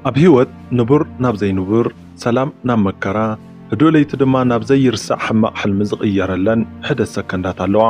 ኣብ ህይወት ንቡር ናብ ዘይንቡር፣ ሰላም ናብ መከራ፣ ህዱእ ለይቲ ድማ ናብ ዘይርሳዕ ሕማቕ ሕልሚ ዝቕየረለን ሕደት ሰከንዳት ኣለዋ።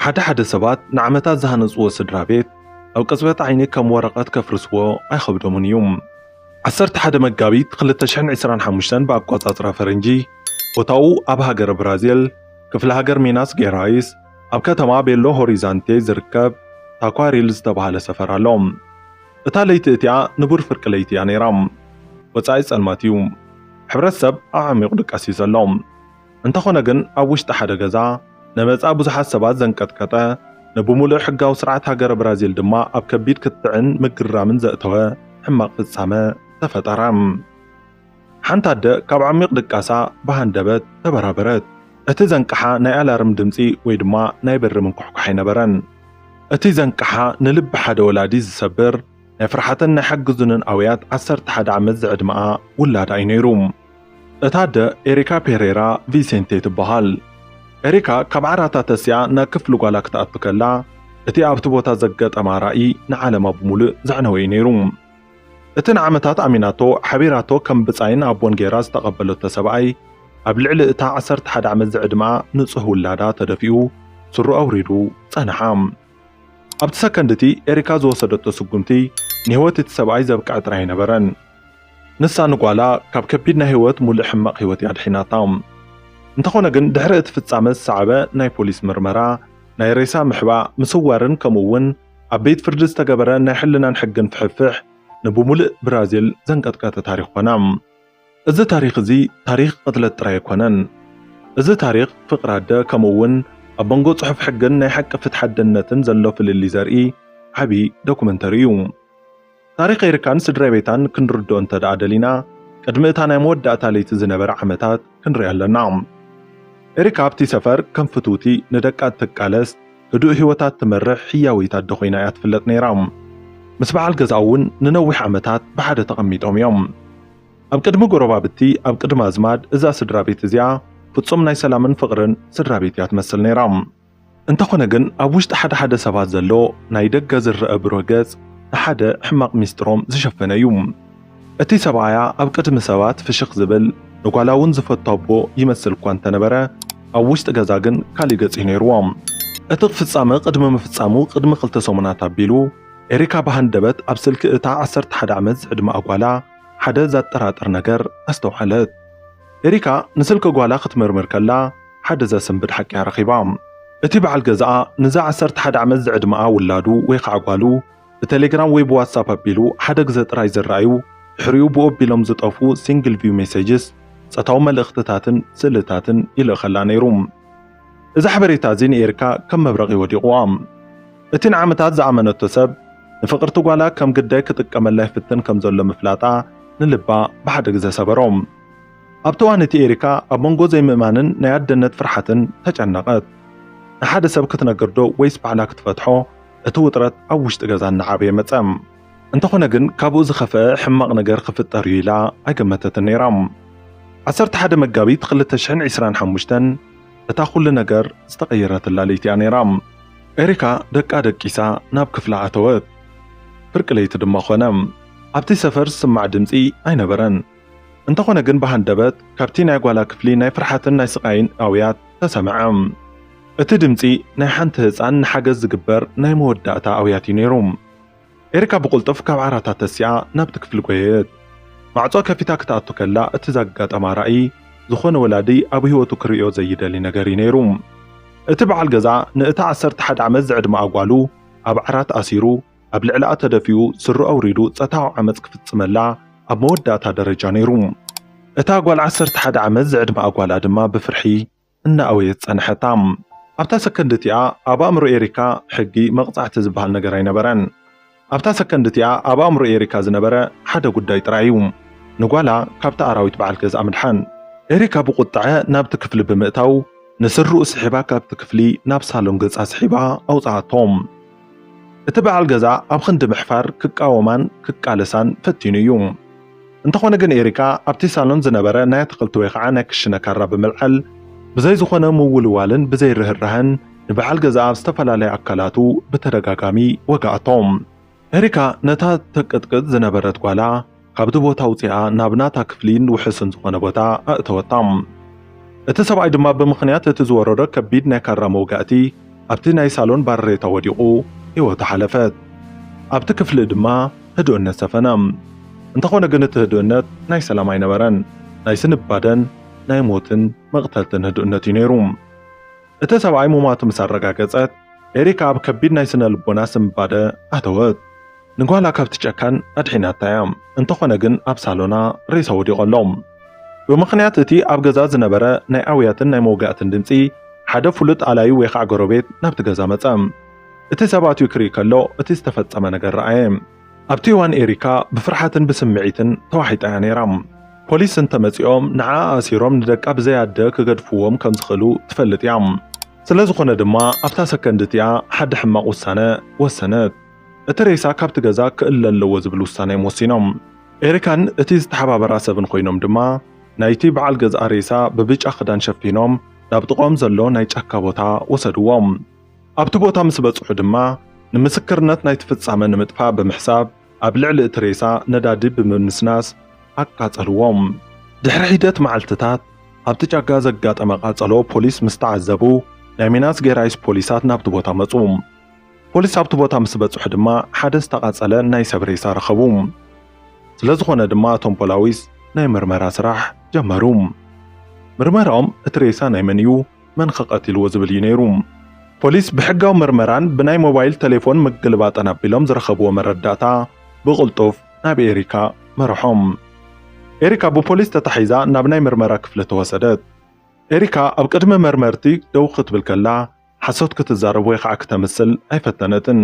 ሓደ ሓደ ሰባት ንዓመታት ዝሃነጽዎ ስድራ ቤት ኣብ ቅጽበት ዓይኒ ከም ወረቐት ከፍርስዎ ኣይኸብዶምን እዩ። ዓሰርተ ሓደ መጋቢት ክልተ ሽሕን ዕስራን ሓሙሽተን ብኣቋጻጽራ ፈረንጂ ቦታኡ ኣብ ሃገረ ብራዚል ክፍለ ሃገር ሚናስ ጌራይስ ኣብ ከተማ ቤሎ ሆሪዛንቴ ዝርከብ ታኳሪል ዝተባህለ ሰፈር ኣሎ። እታ ለይቲ እቲኣ ንቡር ፍርቂ ለይቲ እያ ነይራ። ወጻኢ ጸልማት እዩ። ሕብረተሰብ ኣዕሚቑ ድቀስ እዩ ዘሎ። እንተኾነ ግን ኣብ ውሽጢ ሓደ ገዛ ነመጻ ብዙሓት ሰባት ዘንቀጥቀጠ ንብሙሉእ ሕጋዊ ስርዓት ሃገረ ብራዚል ድማ ኣብ ከቢድ ክትዕን ምግርራምን ዘእተወ ሕማቕ ፍጻመ ተፈጠረ። ሓንቲ ኣደ ካብ ዓሚቕ ድቃሳ ብሃንደበት ተበራበረት። እቲ ዘንቅሓ ናይ ኣላርም ድምጺ ወይ ድማ ናይ በሪ ምንኳሕኳሕ ኣይነበረን። እቲ ዘንቅሓ ንልቢ ሓደ ወላዲ ዝሰብር ናይ ፍርሓትን ናይ ሓግዙንን ኣውያት ዓሰርተ ሓደ ዓመት ዝዕድመኣ ውላዳ እዩ ነይሩ። እታ ኣደ ኤሪካ ፔሬራ ቪሴንቴ ትበሃል። ኤሪካ ካብ ዓራታ ተሲኣ ናብ ክፍሊ ጓላ ክትኣቱ ከላ እቲ ኣብቲ ቦታ ዘገጠማ ራኢ ንዓለማ ብምሉእ ዘዕነወ እዩ ነይሩ። እቲ ንዓመታት ኣሚናቶ ሓቢራቶ ከም ብጻይን ኣቦን ገይራ ዝተቐበለቶ ሰብኣይ፣ ኣብ ልዕሊ እታ ዓሰርተ ሓደ ዓመት ዝዕድመኣ ንጹህ ውላዳ ተደፊኡ ሱሩ ኣውሪዱ ጸንሓ። ኣብቲ ሰከንድ እቲ ኤሪካ ዝወሰደቶ ስጉምቲ ንህይወት እቲ ሰብኣይ ዘብቅዐ ጥራይ ኣይነበረን። ንሳ ንጓላ ካብ ከቢድ ናይ ህይወት ሙሉእ ሕማቕ ህይወት እያ ኣድሒናታ። እንተኾነ ግን ድሕሪ እቲ ፍጻመ ዝሰዓበ ናይ ፖሊስ ምርመራ፣ ናይ ሬሳ ምሕባእ፣ ምስዋርን ከምኡ እውን ኣብ ቤት ፍርዲ ዝተገበረ ናይ ሕልናን ሕግን ፍሕፍሕ ንብሙልእ ብራዚል ዘንቀጥቀጠ ታሪኽ ኮና። እዚ ታሪኽ እዚ ታሪኽ ቕትለት ጥራይ ኣይኮነን። እዚ ታሪኽ ፍቕሪ ኣደ ከምኡ እውን ኣብ መንጎ ጽሑፍ ሕግን ናይ ሓቂ ፍትሓ ኣደነትን ዘሎ ፍልልይ ዘርኢ ዓቢ ዶክመንተሪ እዩ። ታሪኽ ኤሪካን ስድራቤታን ክንርድኦ እንተድኣ ደሊና ቅድሚ እታ ናይ መወዳእታ ለይቲ ዝነበረ ዓመታት ክንርኢ ኣለና። ኤሪካ ኣብቲ ሰፈር ከም ፍትውቲ፣ ንደቃ እትቃለስ፣ ህዱእ ህይወታ እትመርሕ ህያወይቲ ኣደ ኮይና እያ ትፍለጥ ነይራ። ምስ በዓል ገዝኣ እውን ንነዊሕ ዓመታት ብሓደ ተቐሚጦም እዮም። ኣብ ቅድሚ ጎረባብቲ፣ ኣብ ቅድሚ ኣዝማድ እዛ ስድራቤት እዚኣ ፍጹም ናይ ሰላምን ፍቕርን ስድራቤት እያ ትመስል ነይራ። እንተኾነ ግን ኣብ ውሽጢ ሓደ ሓደ ሰባት ዘሎ ናይ ደገ ዝረኣ ብሩህ ገጽ ንሓደ ሕማቕ ሚስጥሮም ዝሸፈነ እዩ። እቲ ሰብኣያ ኣብ ቅድሚ ሰባት ፍሽኽ ዝብል ንጓላ እውን ዝፈቱ ኣቦ ይመስል እኳ እንተነበረ ኣብ ውሽጢ ገዛ ግን ካሊእ ገጽ እዩ ነይርዎ። እቲ ፍጻመ ቅድሚ ምፍጻሙ ቅድሚ ክልተ ሰሙናት ኣቢሉ ኤሪካ ብሃንደበት ኣብ ስልኪ እታ ዓሰርተ ሓደ ዓመት ዝዕድመኣ ጓላ ሓደ ዘጠራጥር ነገር ኣስተውዓለት። ኤሪካ ንስልኪ ጓላ ክትምርምር ከላ ሓደ ዘስንብድ ሓቂ'ያ ረኺባ። እቲ በዓል ገዛኣ ንዛ ዓሰርተ ሓደ ዓመት ዝዕድመኣ ውላዱ ወይ ኸኣ ጓሉ ብቴሌግራም ወይ ብዋትስኣፕ ኣቢሉ ሓደ ግዘ ጥራይ ዝረኣዩ ድሕሪኡ ብኡ ኣቢሎም ዝጠፍኡ ሲንግል ቪው ሜሴጅስ፣ ጸታዊ መልእኽትታትን ስእልታትን፣ ይልእኸላ ነይሩ። እዚ ሓበሬታ እዚ ንኤሪካ ከም መብረቒ ወዲቑዋ። እቲ ንዓመታት ዝኣመነቶ ሰብ ንፍቕርቲ ጓላ ከም ግዳይ ክጥቀመላ ይፍትን ከም ዘሎ ምፍላጣ ንልባ ብሓደ ግዘ ሰበሮ። ኣብቲ እዋን እቲ ኤሪካ ኣብ መንጎ ዘይምእማንን ናይ ኣደነት ፍርሓትን ተጨነቐት። ንሓደ ሰብ ክትነግር ዶ ወይስ ባዕላ ክትፈትሖ እቲ ውጥረት ኣብ ውሽጢ ገዛ እናዓበየ መፀ። እንተኾነ ግን ካብኡ ዝኸፍኣ ሕማቕ ነገር ክፍጠር እዩ ኢላ ኣይገመተትን ነይራ። ዓሰርተ ሓደ መጋቢት ክልተ ሽሕን ዕስራን ሓሙሽተን እታ ኩሉ ነገር ዝተቐየረትላ ለይቲ እያ ነይራ። ኤሪካ ደቃ ደቂሳ ናብ ክፍላ ኣተወት። ፍርቂ ለይቲ ድማ ኮነ። ኣብቲ ሰፈር ዝስማዕ ድምጺ ኣይነበረን። እንተኾነ ግን ብሃንደበት ካብቲ ናይ ጓላ ክፍሊ ናይ ፍርሓትን ናይ ስቓይን ኣውያት ተሰምዐ። እቲ ድምጺ ናይ ሓንቲ ህጻን ንሓገዝ ዝግበር ናይ መወዳእታ ኣውያት እዩ ነይሩ። ኤሪካ ብቕልጡፍ ካብ ዓራታ ተሲኣ ናብቲ ክፍሊ ጐየየት። ማዕጾ ከፊታ ክትኣቱ ከላ እቲ ዛጋጠማ ራእይ፣ ዝኾነ ወላዲ ኣብ ህይወቱ ክርእዮ ዘይደሊ ነገር'ዩ ነይሩ። እቲ በዓል ገዛ ንእታ ዓሰርተ ሓደ ዓመት ዝዕድመኣ ጓሉ ኣብ ዓራት ኣሲሩ፣ ኣብ ልዕለኣ ተደፊኡ ስሩ ኣውሪዱ ጸታዊ ዓመጽ ክፍጽመላ ኣብ መወዳእታ ደረጃ ነይሩ። እታ ጓል ዓሰርተ ሓደ ዓመት ዝዕድመኣ ጓላ ድማ ብፍርሒ፣ እናኣእወየት ጸንሐታ። ኣብታ ሰከንድ እቲኣ ኣብ ኣእምሮ ኤሪካ ሕጊ፣ መቕጻዕቲ ዝበሃል ነገር ኣይነበረን። ኣብታ ሰከንድ እቲኣ ኣብ ኣእምሮ ኤሪካ ዝነበረ ሓደ ጉዳይ ጥራይ እዩ፣ ንጓላ ካብቲ ኣራዊት በዓል ገዝኣ ምድሓን። ኤሪካ ብቑጥዐ ናብቲ ክፍሊ ብምእታው ንስርርኡ ስሒባ ካብቲ ክፍሊ ናብ ሳሎን ገጻ ስሒባ ኣውጽኣቶ። እቲ በዓል ገዛ ኣብ ኽንዲ ምሕፋር ክቃወማን ክቃለሳን ፈቲኑ እዩ። እንተኾነ ግን ኤሪካ ኣብቲ ሳሎን ዝነበረ ናይ ኣትኽልቲ ወይ ኸዓ ናይ ክሽነ ካራ ብምልዓል ብዘይ ዝኾነ ምውልዋልን ብዘይ ርህራሀን ንበዓል ገዛኣ ኣብ ዝተፈላለያ ኣካላቱ ብተደጋጋሚ ወግኣቶ። ኤሪካ ነታ ተቅጥቅጥ ዝነበረት ጓላ ካብቲ ቦታ ኣውጺኣ ናብ ናታ ክፍሊን ውሑስን ዝኾነ ቦታ ኣእተወታ። እቲ ሰብኣይ ድማ ብምኽንያት እቲ ዝወረዶ ከቢድ ናይ ካራ መውጋእቲ ኣብቲ ናይ ሳሎን ባርሬታ ወዲቑ ህይወቱ ሓለፈት። ኣብቲ ክፍሊ ድማ ህዱእነት ሰፈነ። እንተኾነ ግን እቲ ህዱእነት ናይ ሰላም ኣይነበረን። ናይ ስንባደን ናይ ሞትን መቕተልትን ህዱእነት እዩ ነይሩ። እቲ ሰብኣይ ሙማቱ ምስ ኣረጋገጸት፣ ኤሪካ ኣብ ከቢድ ናይ ስነ-ልቦና ስንባደ ኣተወት። ንጓላ ካብቲ ጨካን ኣድሒናታ እያ፣ እንተኾነ ግን ኣብ ሳሎና ሬሳ ወዲቑ ኣሎ። ብምኽንያት እቲ ኣብ ገዛ ዝነበረ ናይ ኣውያትን ናይ መውጋእትን ድምጺ፣ ሓደ ፍሉጥ ኣላዪ ወይ ኻዕ ጎረቤት ናብቲ ገዛ መጸ። እቲ ሰብ ኣትዩ ክርኢ ከሎ እቲ ዝተፈጸመ ነገር ረኣየ። ኣብቲ እዋን ኤሪካ ብፍርሓትን ብስምዒትን ተዋሒጣ እያ ነይራ። ፖሊስ እንተመጺኦም ንዓኣ ኣሲሮም ንደቃ ብዘይ ኣደ ክገድፍዎም ከም ዝኽእሉ ትፈልጥ እያ። ስለዝኾነ ድማ ኣብታ ሰከንድ እቲኣ ሓዲ ሕማቕ ውሳነ ወሰነት። እቲ ሬሳ ካብቲ ገዛ ክእለ ኣለዎ ዝብል ውሳኔም ወሲኖም። ኤሪካን እቲ ዝተሓባበራ ሰብን ኮይኖም ድማ ናይቲ በዓል ገዝኣ ሬሳ ብብጫ ክዳን ሸፊኖም ናብ ጥቕኦም ዘሎ ናይ ጫካ ቦታ ወሰድዎ። ኣብቲ ቦታ ምስ በጽሑ ድማ ንምስክርነት ናይቲ ፍጻመ ንምጥፋእ ብምሕሳብ ኣብ ልዕሊ እቲ ሬሳ ነዳዲ ብምንስናስ ኣቃጸልዎ። ድሕሪ ሒደት መዓልትታት ኣብቲ ጫካ ዘጋጠመ ቃጸሎ ፖሊስ ምስ ተዓዘቡ ናይ ሚናስ ጌራይስ ፖሊሳት ናብቲ ቦታ መጹ። ፖሊስ ኣብቲ ቦታ ምስ በጽሑ ድማ ሓደ ዝተቓጸለ ናይ ሰብ ሬሳ ረኸቡ። ስለ ዝኾነ ድማ እቶም ፖላዊስ ናይ ምርመራ ስራሕ ጀመሩ። ምርመራኦም እቲ ሬሳ ናይ መን እዩ፣ መን ከ ቀቲልዎ ዝብል እዩ ነይሩ። ፖሊስ ብሕጋዊ ምርመራን ብናይ ሞባይል ተሌፎን ምግልባጥን ኣቢሎም ዝረኸብዎ መረዳእታ ብቕልጡፍ ናብ ኤሪካ መርሖም። ኤሪካ ብፖሊስ ተታሒዛ ናብ ናይ ምርመራ ክፍሊ ተወሰደት። ኤሪካ ኣብ ቅድሚ መርመርቲ ደው ክትብል ከላ፣ ሓሶት ክትዛረብ ወይ ኸኣ ክተምስል ኣይፈተነትን።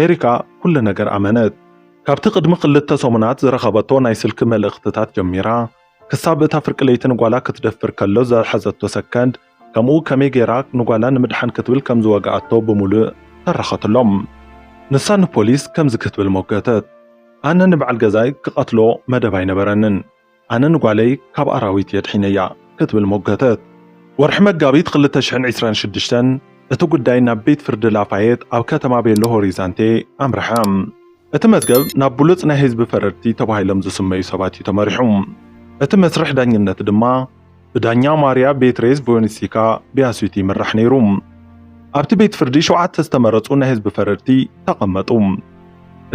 ኤሪካ ኩሉ ነገር ኣመነት። ካብቲ ቅድሚ ክልተ ሰሙናት ዝረኸበቶ ናይ ስልኪ መልእኽትታት ጀሚራ ክሳብ እታ ፍርቂ ለይቲ ንጓላ ክትደፍር ከሎ ዝሓዘቶ ሰከንድ ከምኡ ከመይ ገይራ ንጓላ ንምድሓን ክትብል ከም ዝወግኣቶ ብምሉእ ተረኸትሎም። ንሳ ንፖሊስ ከምዚ ክትብል ሞገተት። ኣነ ንበዓል ገዛይ ክቐትሎ መደብ ኣይነበረንን። ኣነ ንጓለይ ካብ ኣራዊት የድሒነያ ክትብል ሞገተት። ወርሒ መጋቢት ክልተ ሽሕን ዕስራን ሽዱሽተን እቲ ጉዳይ ናብ ቤት ፍርዲ ላፋየት ኣብ ከተማ ቤሎ ሆሪዛንቴ ኣምርሐ። እቲ መዝገብ ናብ ብሉጽ ናይ ህዝቢ ፈረድቲ ተባሂሎም ዝስመዩ ሰባት እዩ ተመሪሑ። እቲ መስርሕ ዳኝነት ድማ ብዳኛ ማርያ ቤትሬዝ ቮዮኒሲካ ቢያሱቲ ይምራሕ ነይሩ። ኣብቲ ቤት ፍርዲ ሸውዓተ ዝተመረጹ ናይ ህዝቢ ፈረድቲ ተቐመጡ።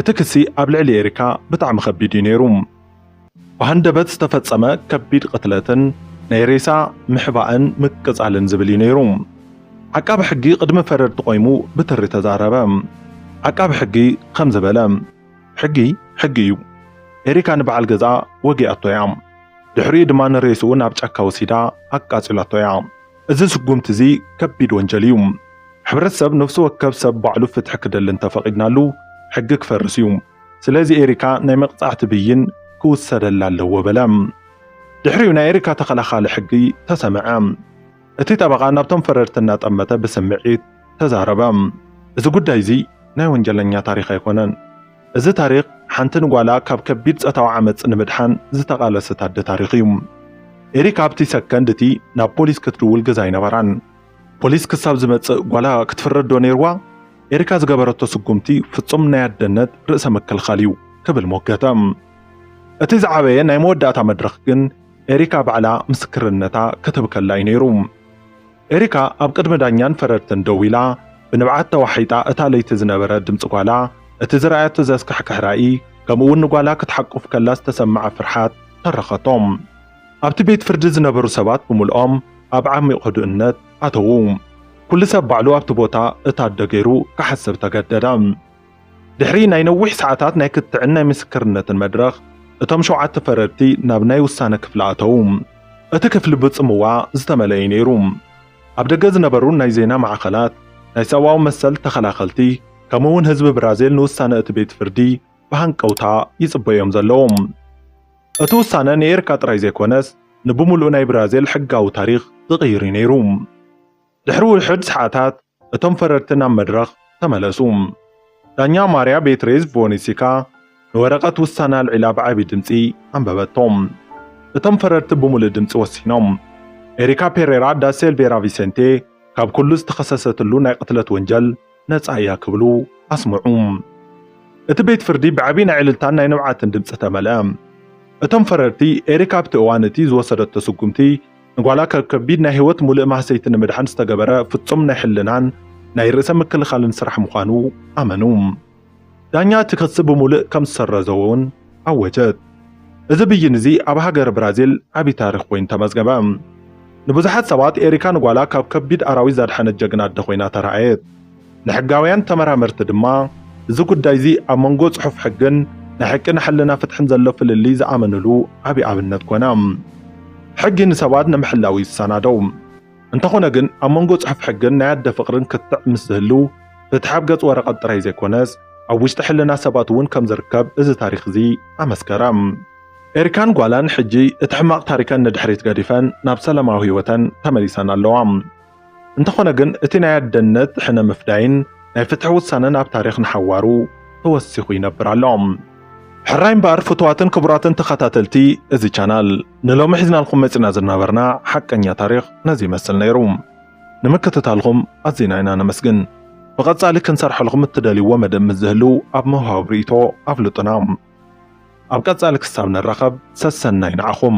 እቲ ክሲ ኣብ ልዕሊ ኤሪካ ብጣዕሚ ከቢድ እዩ ነይሩ። ብሃንደበት ዝተፈጸመ ከቢድ ቅትለትን ናይ ሬሳ ምሕባእን ምቅጻልን ዝብል እዩ ነይሩ። ዓቃቢ ሕጊ ቅድሚ ፈረድቲ ቆይሙ ብትሪ ተዛረበ። ዓቃቢ ሕጊ ከምዚ በለ፣ ሕጊ ሕጊ እዩ። ኤሪካ ንበዓል ገዝኣ ወጊኣቶ እያ። ድሕሪኡ ድማ ንሬስኡ ናብ ጫካ ወሲዳ ኣቃጺላቶ እያ። እዚ ስጉምቲ እዚ ከቢድ ወንጀል እዩ። ሕብረተሰብ ነፍሲ ወከፍ ሰብ ባዕሉ ፍትሒ ክደሊ እንተፈቒድናሉ ሕጊ ክፈርስ እዩ። ስለዚ ኤሪካ ናይ መቅጻዕቲ ብይን ክውሰደላ ኣለዎ በለ። ድሕሪኡ ናይ ኤሪካ ተኸላኻሊ ሕጊ ተሰምዐ። እቲ ጠበቓ ናብቶም ፈረድቲ እናጠመተ ብስምዒት ተዛረበ። እዚ ጉዳይ እዚ ናይ ወንጀለኛ ታሪኽ ኣይኮነን። እዚ ታሪኽ ሓንቲ ንጓላ ካብ ከቢድ ጸታዊ ዓመጽ ንምድሓን ዝተቓለሰት ኣደ ታሪኽ እዩ። ኤሪካ ኣብቲ ሰከንድ እቲ ናብ ፖሊስ ክትድውል ግዘ ኣይነበራን። ፖሊስ ክሳብ ዝመጽእ ጓላ ክትፍረድ ዶ ነይርዋ? ኤሪካ ዝገበረቶ ስጉምቲ ፍጹም ናይ ኣደነት ርእሰ ምክልኻል እዩ ክብል ሞገተ። እቲ ዝዓበየ ናይ መወዳእታ መድረኽ ግን ኤሪካ ባዕላ ምስክርነታ ክትህብ ከላ እዩ ነይሩ። ኤሪካ ኣብ ቅድሚ ዳኛን ፈረድትን ደው ኢላ ብንብዓት ተዋሒጣ እታ ለይቲ ዝነበረ ድምጺ ጓላ፣ እቲ ዝረኣየቶ ዘስካሕክሕ ራኢ፣ ከምኡ'ውን ንጓላ ክትሓቁፍ ከላ ዝተሰምዓ ፍርሓት ተረኸቶ። ኣብቲ ቤት ፍርዲ ዝነበሩ ሰባት ብምልኦም ኣብ ዓሚቕ ህዱእነት ኣተዉ። ኩሉ ሰብ ባዕሉ ኣብቲ ቦታ እታደ ገይሩ ክሓስብ ተገደደ። ድሕሪ ናይ ነዊሕ ሰዓታት ናይ ክትዕን ናይ ምስክርነትን መድረኽ፣ እቶም ሸውዓተ ፈረድቲ ናብ ናይ ውሳነ ክፍሊ ኣተዉ። እቲ ክፍሊ ብጽምዋ ዝተመልአ እዩ ነይሩ። ኣብ ደገ ዝነበሩ ናይ ዜና ማዕኸናት፣ ናይ ሰብኣዊ መሰል ተኸላኸልቲ፣ ከምኡ'ውን ህዝቢ ብራዚል ንውሳነ እቲ ቤት ፍርዲ ብሃንቀውታ ይጽበ እዮም ዘለዉ። እቲ ውሳነ ንኤርካ ጥራይ ዘይኮነስ ንብምሉኡ ናይ ብራዚል ሕጋዊ ታሪኽ ዝቕይር'ዩ ነይሩ። ድሕሪ ውሑድ ሰዓታት እቶም ፈረድቲ ናብ መድረኽ ተመለሱ። ዳኛ ማርያ ቤትሬዝ ቮኒሲካ ንወረቐት ውሳነ ኣልዒላ ብዓቢ ድምጺ ኣንበበቶ። እቶም ፈረድቲ ብምሉእ ድምጺ ወሲኖም፣ ኤሪካ ፔሬራ ዳ ሴልቬራ ቪሴንቴ ካብ ኩሉ ዝተኸሰሰትሉ ናይ ቅትለት ወንጀል፣ ነጻ እያ ክብሉ ኣስምዑ። እቲ ቤት ፍርዲ ብዓቢ ናይ ዕልልታን ናይ ንብዓትን ድምጺ ተመልአ። እቶም ፈረድቲ፣ ኤሪክ ኣብቲ እዋን እቲ ዝወሰደቶ ስጉምቲ ንጓላ ካብ ከቢድ ናይ ህይወት ሙልእ ማህሰይቲ ንምድሓን ዝተገበረ ፍጹም ናይ ሕልናን ናይ ርእሰ ምክልኻልን ስራሕ ምዃኑ ኣመኑ። ዳኛ እቲ ክሲ ብምሉእ ከም ዝሰረዞ'ውን ኣወጀት። እዚ ብይን እዚ ኣብ ሃገረ ብራዚል ዓቢ ታሪኽ ኮይኑ ተመዝገበ። ንብዙሓት ሰባት ኤሪካ ንጓላ ካብ ከቢድ ኣራዊት ዘድሓነት ጀግና ኣደ ኮይና ተራእየት። ንሕጋውያን ተመራመርቲ ድማ እዚ ጉዳይ እዚ ኣብ መንጎ ጽሑፍ ሕግን ናይ ሓቂ ንሓልና ፍትሕን ዘሎ ፍልልይ ዝኣመንሉ ዓቢ ኣብነት ኮነ። ሕጊ ንሰባት ንምሕላው እዩ ዝሰናደው። እንተኾነ ግን ኣብ መንጎ ጽሑፍ ሕግን ናይ ኣደ ፍቕርን ክትዕ ምስ ዝህሉ፣ ፍትሒ ኣብ ገጽ ወረቐት ጥራይ ዘይኮነስ ኣብ ውሽጢ ሕልና ሰባት እውን ከም ዝርከብ እዚ ታሪኽ እዚ ኣመስከረ። ኤሪካን ጓላን ሕጂ እቲ ሕማቕ ታሪከን ንድሕሪት ገዲፈን ናብ ሰላማዊ ህይወተን ተመሊሰን ኣለዋ። እንተኾነ ግን እቲ ናይ ኣደነት ሕነ ምፍዳይን ናይ ፍትሒ ውሳነን ኣብ ታሪኽ ንሓዋሩ ተወሲኹ ይነብር ኣሎ። ሕራይ እምበኣር ፍትዋትን ክቡራትን ተኸታተልቲ እዚ ቻናል ንሎሚ ሒዝናልኩም መጺና ዝናበርና ሓቀኛ ታሪኽ ነዚ ይመስል ነይሩ። ንምክትታልኹም ኣዚና ኢና ነመስግን። ብቐጻሊ ክንሰርሐልኹም እትደልይዎ መደብ ምስ ዝህሉ ኣብ ምውሃብ ርእይቶ ኣፍልጡና። ኣብ ቀጻሊ ክሳብ ንራኸብ ሰሰናዩ ንዓኹም።